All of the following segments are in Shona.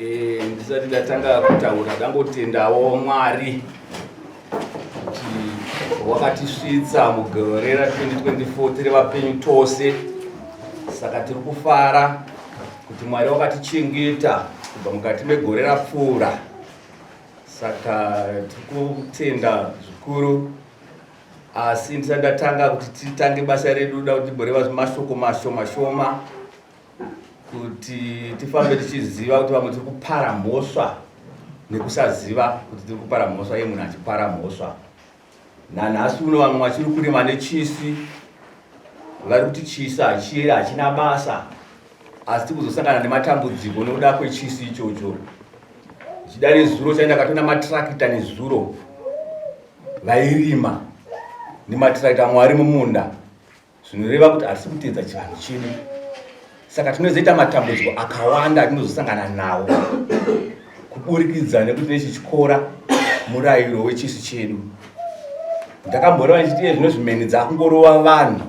Eh, ndisati ndatanga kutaura ndangotendawo mwari kuti wakatisvitsa mugore ra 2024 tiri vapenyu tose saka tiri kufara kuti mwari wakatichengeta kubva mukati megore rapfuura saka tiri kutenda zvikuru Asi ndisati ndatanga kuti titange basa redu, ndoda kuti timboreva mashoko mashoma shoma kuti tifambe tichiziva kuti vamwe tiri kupara mhosva nekusaziva kuti tiri kupara mhosva iye munhu achipara mhosva. Nanhasi uno vamwe vachiri kurima nechisi, vari kuti chisi hachiyeri hachina basa, asi tiri kuzosangana nematambudziko nokuda kwechisi ichocho. Zvichida nezuro chaenda katona matrakita nezuro vairima nematiraita amwe ari mumunda zvinoreva kuti harisi kuteedza chivanhu chedu saka tinozoita matambudziko akawanda atinozosangana nawo kuburikidza nekuti nechichikora murayiro wechisu chedu ndakamboreva ndichiti iye zvino zvimeni dzakungorova vanhu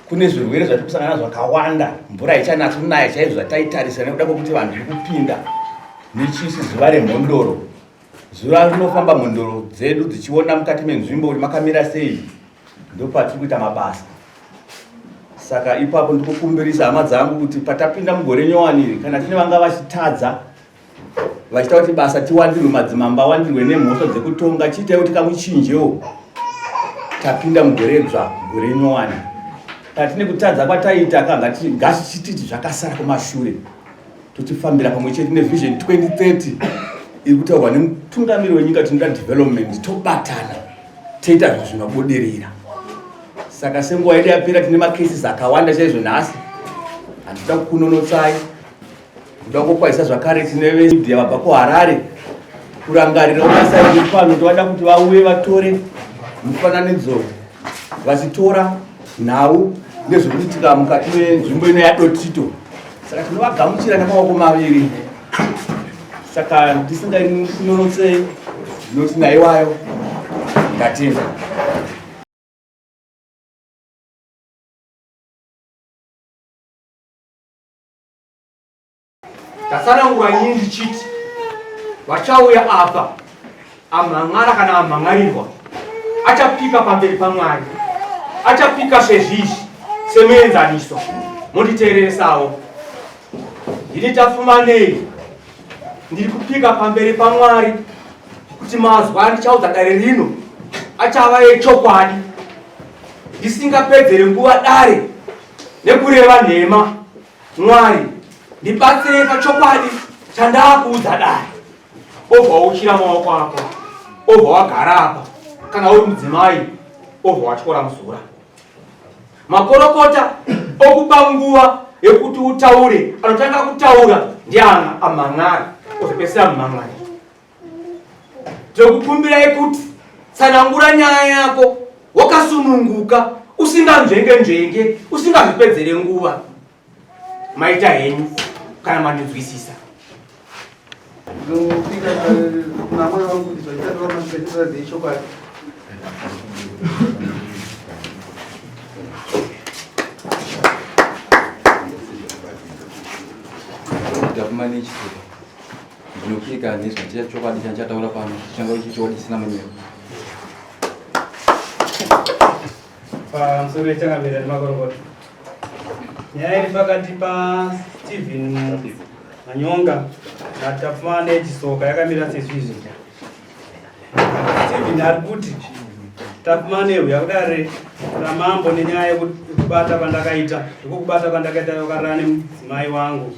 kune zvirwere zvatiri kusangana nazvo zvakawanda mvura haichanatsi kunaya chaizvo zvataitarisira nekuda kwekuti vanhu zviri kupinda nechisi zuva remhondoro Zuva rinofamba mhondoro dzedu dzichiona mukati menzvimbo kuti makamira sei ndopatiri kuita mabasa. Saka ipapo ndikukumbirisa hama dzangu kuti patapinda mugore nyowani iri kana tine vanga vachitadza vachita kuti basa tiwandirwe madzimamba awandirwe nemhosva dzekutonga chiitai kuti kamuchinjewo tapinda mugore dzva gore nyowani patine kutadza kwataita kangati ngatichititi zvakasara kumashure totifambira pamwe chete nevision 2030 iri kutaurwa nemutungamiri wenyika tinoda development tobatana toita zvinhu zvinobudirira saka senguva yedu yapera tine macases akawanda chaizvo nhasi handida kukunonotsai kuda kukwazisa zvakare tine vemedia vabva kuharare kurangarira unasaii pano tovada kuti vauye vatore mufananidzo vachitora nhau nezvekuitika mukati menzvimbo ino yadotito saka tinovagamuchira nemaoko maviri saka ndisingainonotse ndinoti naiwayo ndatenda Tatsanangura nyini ndichiti vachauya apa amhan'ara kana amhan'arirwa achapika pamberi pamwari achapika sezvizvi semuenzaniso monditeereresawo ndini tafumanei ndiri kupika pamberi pamwari kuti mazwa andichaudza dare rino achava yechokwadi ndisingapedzere nguva dare nekureva nhema Mwari, ndibatsire pachokwadi chandakuudza dai. Obva wauchira maoko ako, obva wagara apa, kana uri mudzimai, obva watyora muzura. Makorokota okupa nguva yekuti utaure anotanga kutaura ndiana amhan'ari ozopedzisira mumhan'ari Tinokukumbirai kuti tsanangura nyaya yako wakasununguka usinganzvenge nzvenge usingazvipedzere nguva maita henyu kana mandinzwisisa Government Ndinopika hanzi zvichaiya chokwadi chandichataura pano chichanga ichi chokwadi chisina munyero. Pamusoro pechangamira nemakorokota nyaya iri pakati paStephen Manyonga naTapfuma neChisoka yakamira sezvizvi. Stephen ari kuti Tapfuma nehu yakudare ramambo nenyaya yekubata kwandakaita ndiko kubata kwandakaita yokarana nemudzimai wangu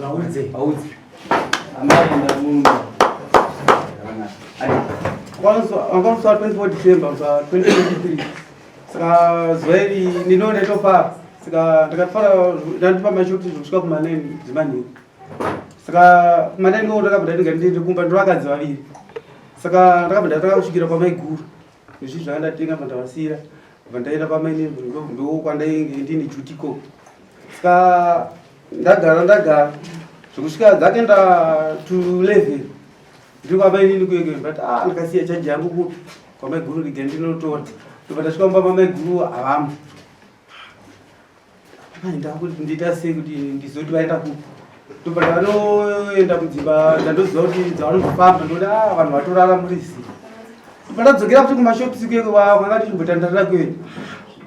Vaudze, vaudze. Amai ndamunhu. Wakamuswa 24 December, muswa 2023. Saka zuva iri ndinoona itopa. Saka ndakafara ndandipa mashuti zvekusvika kumaneni dzimanheru. Saka kumaneni ko ndakabva ndainga ndiri kumba ndiro vakadzi vaviri. Saka ndakabva ndatanga kusvikira kwamaiguru. Izvi zvandatenga pandavasira. Vandaenda kwamainini ndokwandainge ndini jutiko. Saka ndagara ndagara zvekusvika dzake nda to 11 ndiri kwamba inini kuyeke but ah ndakasiya chaji yangu kupi kwamaiguru rige ndinotora ndobva ndasvika mumba mamaiguru havamo vainda kuti ndiita sei kuti ndizoti vaenda kupi ndobva ndanoenda kudzimba ndandoziva kuti dzavanozofamba ndoda ah, vanhu vatorara murisi Pandadzokera kuti kumashops ikweyo vavo vakati chimbotandarira kwedu.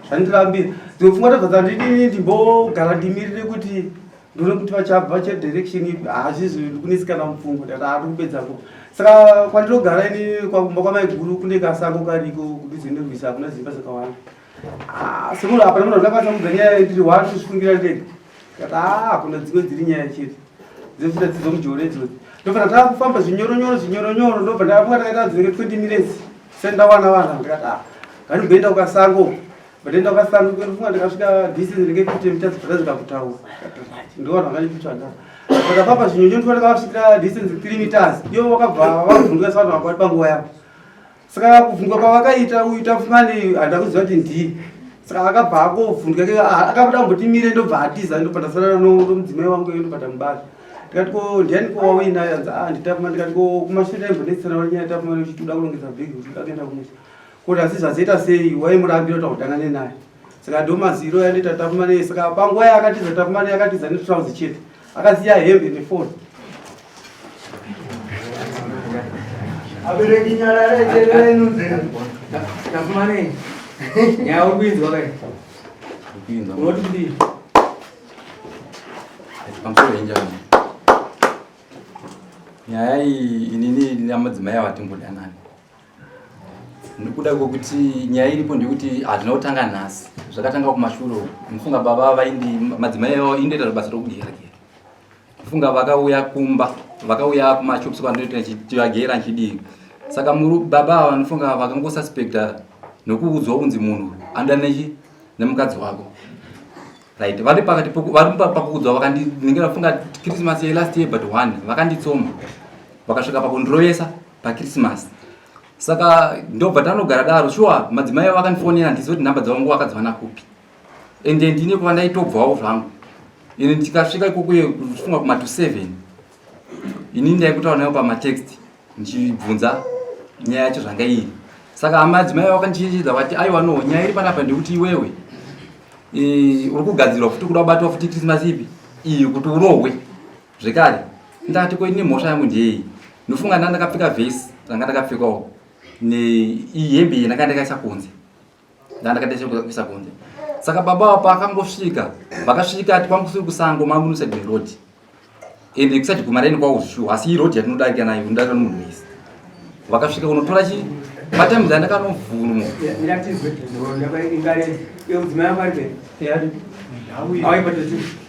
Zvandirambira. Dzimwe pfungwa tabva dzandidini ndimbogara ndimirire kuti ndone kuti vachabva che direction ipi hazvizi ndikunisikana mupfungwa ndati haa ndikupedza ko saka kwandinogara ini kwakumba kwamaiguru kune kasango kariko kudhuze nerwisa hakuna zimba zakawanda sekuru apa nemuna ndakwanisa kubva nyaya ndiri wani tozvifungira ndege kata ah, kuna dzimwe dziri nyaya chete dzefita dzidzo mujoro idzodzo ndobva ndatanga kufamba zvinyoronyoro zvinyoronyoro ndobva ndamuka takaita dzinenge twenty minutes sendawana wana ndikati ah, nganimboenda kukasango batoenda kukasango kwerufunga ndikasvika distance ndinenge fifty meters bvatazvika kutaura ndiwana vakandipitsvanda vakafamba zvinyonyo ndikona kavasvikira distance three meters iyo vakabva vavhunduka savanhu vakwati panguva yavo saka kuvhunduka kwavakaita uyu tafumani handida kuziva kuti ndii saka akabva akovhunduka ke ah, akabuda kumboti mire ndobva atiza ndopandasarana nomudzimai wangu iyo ndopata mubasa ndikati ko ndiani ko wauinayo yanzi a ah, nditafuma ndikati ko kumashure aimbonetsana wanyaya tafuma uchiti uda kulongedza bhegi kuti uda kuenda kumusha kuti asi zvazoita sei waimurambira kuti akudanane naye saka ndo maziro yandiita takumane saka panguva yaakatiza takumane yakatiza netrouse chete akasiya hembe nefoni abereki nyara retererenu dzenu takumane nyaya uri kuinzwa kai unoti kudii pamusoro yenjaa nyaya iyi inini namadzimai avatimbodanani nekuda kwekuti nyaya iripo ndekuti hazvina kutanga nhasi zvakatanga kumashure mufunga baba vaindi madzimai avo indoita basa rokugera gera mufunga vakauya kumba vakauya kumashops kwandinoita chivagera nchidii saka muri baba ava vanofunga vakangosuspecta nokuudzwa kunzi munhu anoda nechi nemukadzi wako right vari pakati vari pakuudzwa vakandinenge vafunga christmas yelast year but one vakanditsoma vakasvika pakundirovesa pakrisimasi saka ndobva tanogara daro shuwa madzimai avo akandifonera ndizive kuti nhamba dzavo nguva akadziwana kupi ende ndine kuva ndaitobvawo zvangu ini ndikasvika ikokuye kufunga kuma to seven ini ndaikutaura nayo pamatext ndichibvunza nyaya yacho zvanga iri saka amadzimai avo akandichechedza vati aiwa no nyaya iri panapa ndekuti iwewe e, uri kugadzirwa futi kuda kubatwa futi krisimasi ipi iyi kuti urohwe zvekare ndati ko ini mhosva yangu ndeyei ndofunga nda ndakapfeka vhesi ranga ndakapfekawo nehembe iyi ndanga ndakaisa kunze nda ndakataisa kuisa kunze saka baba wa paakangosvika vakasvika ati kwangu kusiri kusango mamunusa the road ende kusati guma raini kwawo zvishu asi iyi road yatinodarika nayo ndarika nomunhu wese vakasvika kunotora chii matimes andakanovhunwa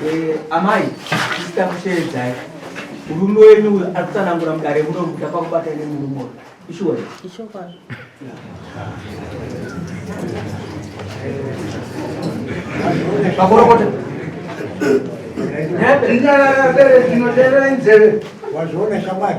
Eh, amai tisita kusheedzai murume wenyu uyo ari kutsanangura mudare muno kuti apakubata ine murume uyo ishuwa ichokwadi pakorokota nyaya dzinoteerera inzeve wazviona shamwari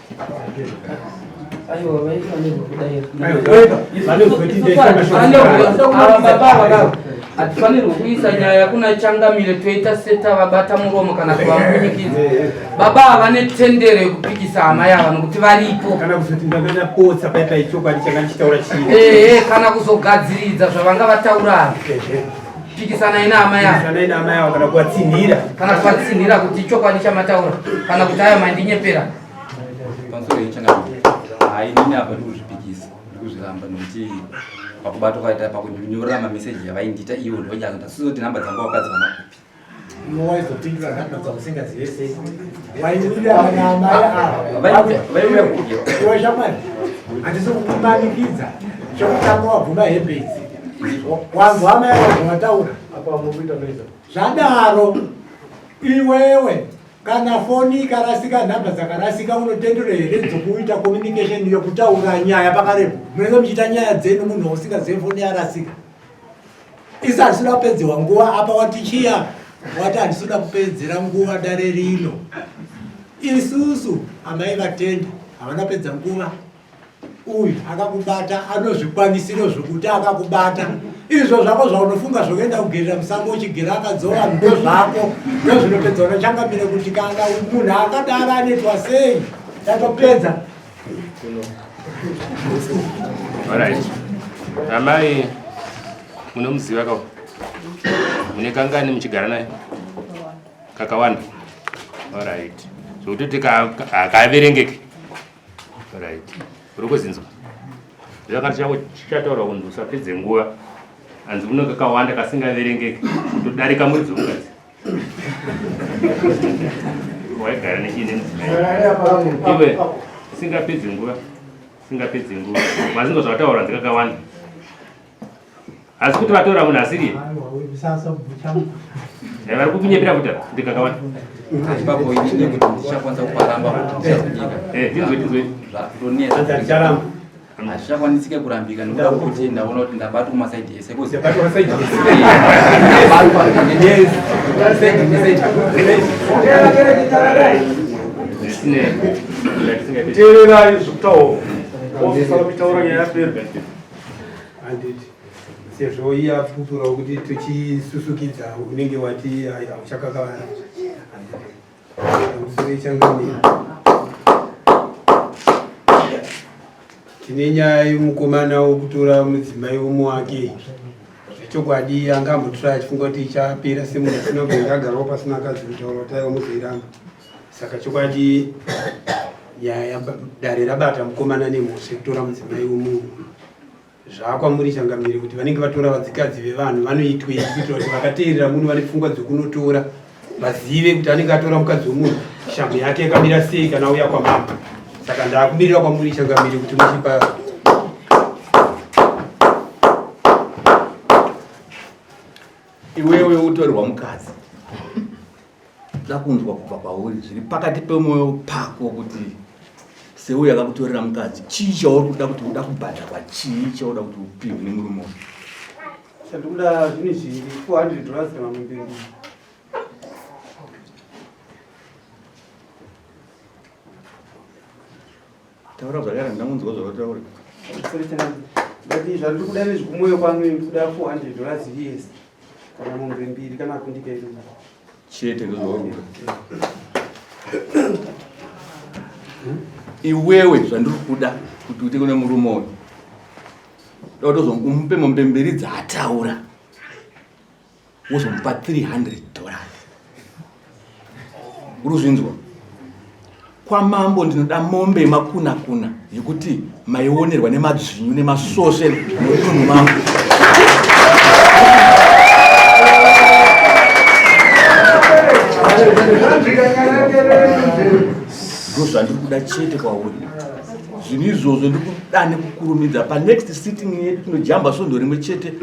hatifanirwe kuisa nyaya kuna changamire toita setavabata muromo kana kuvambunyikidza baba ava vane tendero yekupikisa hama yava nokuti varipo kana kuzogadziridza zvavanga vataura ava pikisanai naamai avo Pikisanai naamai avo kana kuvatsinhira kana kuvatsinhira kuti ichokwadi chamataura kana kuti aya mandinyepera pamusoro yechangaa hainini apa ndikuzvipikisa ndikuzviramba nokuti pakubata kwaita pakunyorera mameseji yavaindiita ivo ndovanyanga ndasizoti nhamba dzanga wakadzi vanakupi iwe waizopindura nhamba dzausingazive sei waiuyaaiweshamwari handisi kukumanikidza chekutanga wabvuma hembe idzi wangu hama yavo vataura zvadaro iwewe kana foni ikarasika nhamba dzakarasika unotendera here dzokuita communication yokutaura nyaya pakarepo munenge muchiita nyaya dzenu munhu usingazive foni yarasika Isi asina kupedzerwa nguva apa wati chiya wati handisina kupedzera nguva dare rino. Isusu amai vatenda havana pedza nguva. Uyu akakubata anozvikwanisiro zvokuti akakubata izvo zvako zvaunofunga zvokuenda kugerera musango uchigera akadzora ndo zvako ndozvinopedza unochangamire kuti kana munhu akadaro anetwa sei tatopedza Alright. Amai munomuziva ka mune kangani muchigara naye kakawanda alright zvokutoti hakaverengeke alright uri kuzinzwa zvakati chako chichataurwa kunzi usapedze nguva hanzi uno kakawanda kasingaverengeke kutodarika mwedzi ungazi waigara nechii nemudzimaiiwe singapedzi nguva singapedzi nguva mazingo zvavataura ndikakawanda asi kuti vatora munhu asiri eh, vari kukunyepera kuti ndikakawanda ndinzwe ndinzwe hazvichakwanisike kurambika nekuda kwekuti ndaona kuti ndabatwa kumasaidi ese teererai zvekutaura ofisala mitauro nyaya yapera handiti sezvo iye apupurawo kuti tichisusukidza unenge wati hauchakakavara tine nyaya yemukomana wokutora mudzimai umwe wake zvechokwadi anga ambotora achifunga kuti ichapera semunhu asina kuenga agarawo pasina akadzi kutaura kuti aiwa muzoiramba saka chokwadi nyaya dare rabata mukomana nemhosva yekutora mudzimai womunhu Zvaakwamuri changamire kuti vanenge vatora vadzikadzi vevanhu vanoitwei kuitira kuti vakateerera muno vane pfungwa dzokunotora vazive kuti anenge atora mukadzi wemunhu shamhu yake yakamira sei kana auya kwamama saka ndaakumirira kwamuri changamire kuti muchipa iwewe utorwa mukadzi Ndoda kunzwa kubva pauri zviri pakati pemwoyo pako kuti seuyo akakutorera mukadzi chii chauri kuda kuti uda kubhadharwa chii chauda kuti upihwe nemurume uyu chandikuda zvine zviri 400 dollars kana mumberi Taura zvakare ndamunzwa zvavataura. Ndati zvatiri kuda nezvikumoyo kwanu kuda 400 dollars yes. Kana mombe mbiri kana kundika iri. Chete ndozvawakuda. Iwewe zvandiri kuda kuti uite kune murume uyu. Ndotozomupe mombe mbiri dzaataura. wozomupa 300 dollars uruzvinzwa kwamambo ndinoda mombe yemakuna kuna yekuti maionerwa nemadzvinyu nemasvosve mudunhu mangu ndozvandiri kuda chete kwauri zvinhu izvozvo ndiri kuda nekukurumidza panext sitting yedu tinojamba svondo rimwe chete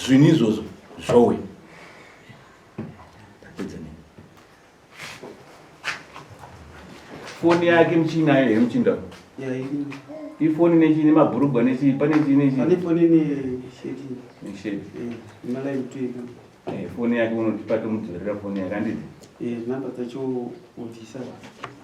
zvinhu izvozvo Zvowe. Tapedza nini? Foni yake mchina yeye mchinda. Yeah, you Ifoni nechi ne mabhurugwa nechi pane chi nechi. Pane foni ne sheti. Ne sheti. Eh, mala mtweka. Eh, foni yake unotipa tomudzorera foni yake anditi. Eh, namba tacho uvisa.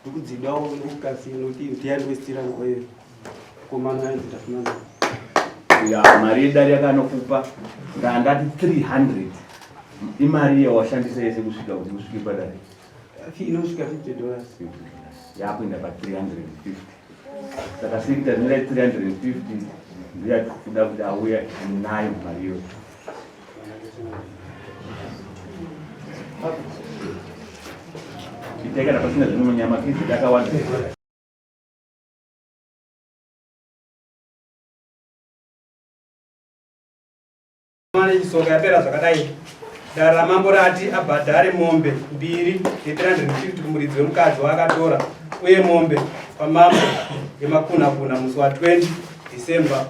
Ndikudzidawo nekukasi nekuti ndiyandwestira nguva iyo komana yanzi tafunana. Ya mari yedari yakanokupa ndandati 300 imari iyo washandisa yese kusvika kuti usvike padari. Inosvika 50 dollars. Yakuenda pa 350. Saka sikuita zvinoda 350 ndiya kuda kuti auya nayo mari iyoyo. Ndikana pasina zvimwe munyama kizi dakawanda. Mwana isonga yapera zvakadai. Dara ramambo rati abhadhare mombe mbiri ye350 kumuridzi wemukadzi waakatora uye mombe pamambo yemakunakuna musi wa 20 December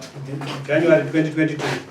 January 2022.